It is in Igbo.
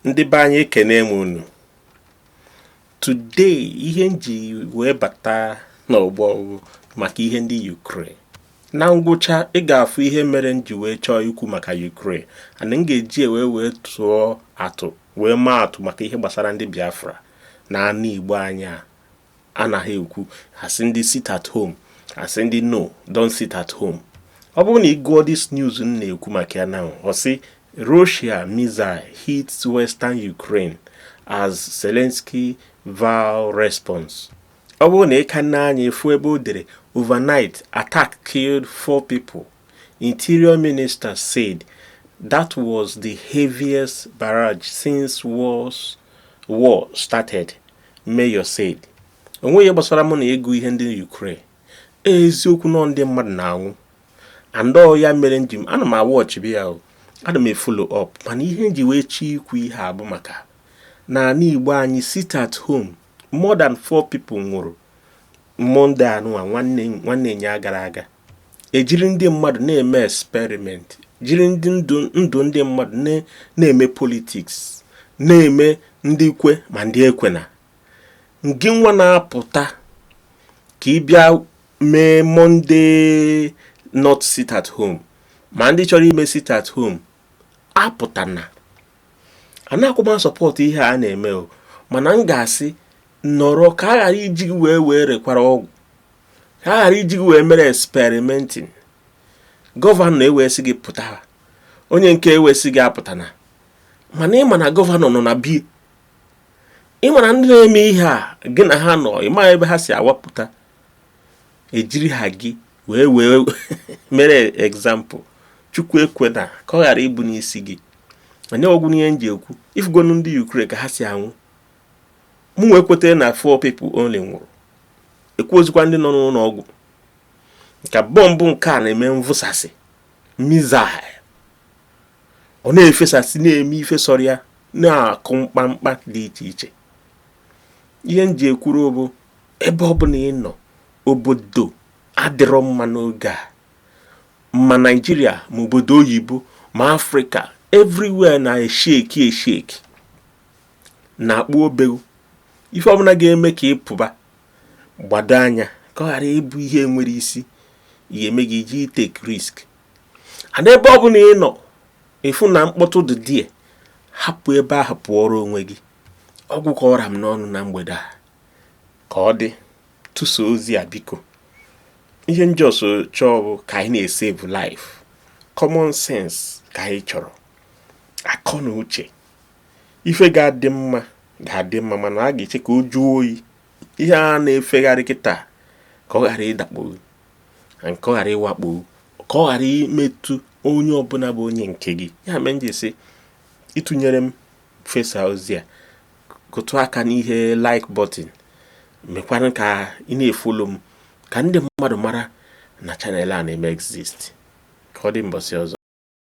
ndị be anyị ekenee m unu today ihe m ji wee bata n'ọgbọ bụ maka ihe ndị Ukraine na ngwụcha ị ga-afụ ihe mere m ji wee chọọ ikwu maka Ukraine and m ga-eji wee wee tụọ atụ wee maa atụ maka ihe gbasara ndị Biafra na ana Igbo anyị a anaghị ekwu a sị ndị sit at home a sị ndị no don't sit at home ọ bụrụ na ị gụọ this news m na-ekwu maka ya now ọ sị Russia missile hits western Ukraine as Zelensky vow response ọ bụrụ na ị ka nee anya ị fụ ebe o dere overnight attack killed four people Interior Minister said that was the heaviest barrage since wars, war started, Mayor said. O nweghị ihe gbasara mụ na ịgụ ihe ndị Ukraine. Eziokwu na ndị mmadụ na-anwụ. And ọ ya mere m ji m ana m awatch bi ya o. Ana m efollow up mana ihe m ji wee chọọ ikwu ihe a bụ maka na ana Igbo anyị sit at home more than four people nwụrụ Monday anụwa nwanne ụnyaa gara aga. e jiri ndị mmadụ na-eme experiment jiri ndụ ndụ ndị mmadụ na- na-eme politics na-eme ndị kwe ma ndị ekwena ngịnwa na-apụta ka ị bịa mee Monday not sit at home ma ndị chọrọ ime sit at home apụtana anakwọ m asupport ihe a na-eme o mana m ga-asị nọrọ ka a ghara iji gị wee wee rekwara ọgwụ ka a ghara iji gị wee mere experimenting gọvanọ wee sị gị pụta onye nke a wee sị gị apụtana mana ị ma na gọvanọ nọ na be ya ị ma na ndị na-eme ihe a gị na ha nọ ị ma ebe ha si awapụta e jiri ha gị wee wee mere example Chukwu ekwena ka ọ ghara ịbụ n'isi gị onye ọ gwụnụ ihe m ji ekwu ị fụgonụ ndị Ukraine ka ha si anwụ mụ wee kweta na four people only nwụrụ ekwuzikwa ndị nọ n'ụlọ ọgwụ maka bọmbụ nke a na-eme mvụsasị missile ọ na-efesasị na-eme ife sọrọ ya na-akụ mkpamkpa dị iche iche ihe m ji ekwuru bụ ebe ọ bụla ị nọ obodo adịrọ mma n'oge a ma Nigeria ma obodo oyibo ma Africa everywhere na-eshake eshake na-akpụ obeghu ife ọbụla ga-eme ka ị pụba gbado anya ka ọ ghara ịbụ ihe enwerọ isi ihe eme gị iji take risk and ebe ọ bụla ị nọ ị fụ na mkpọtụ dị there hapụ ebe ahụ pụọrọ onwe gị ọ gwụ ka ọ ra m n'ọnụ na mgbede a ka ọ dị tụsaa ozi a biko ihe m just chọọ bụ ka anyị na-esave life common sense ka anyị chọrọ akọ na uche ife ga-adị mma ga-adị mma mana a ga-eche ka ọ jụọ oyi ihe a na-efegharị kịta ka ọ ghara ịdakpo and ka ọ ghara ịwakpo ka ọ ghara imetụ onye ọbụla bụ onye nke gị ya mee m ji sị ịtụnyere m fesa ozi a kụtụ aka n'ihe like button mekwara ka ị na-efollow m ka ndị mmadụ mara na channel a na-eme exist ka ọ dị mbọsị ọzọ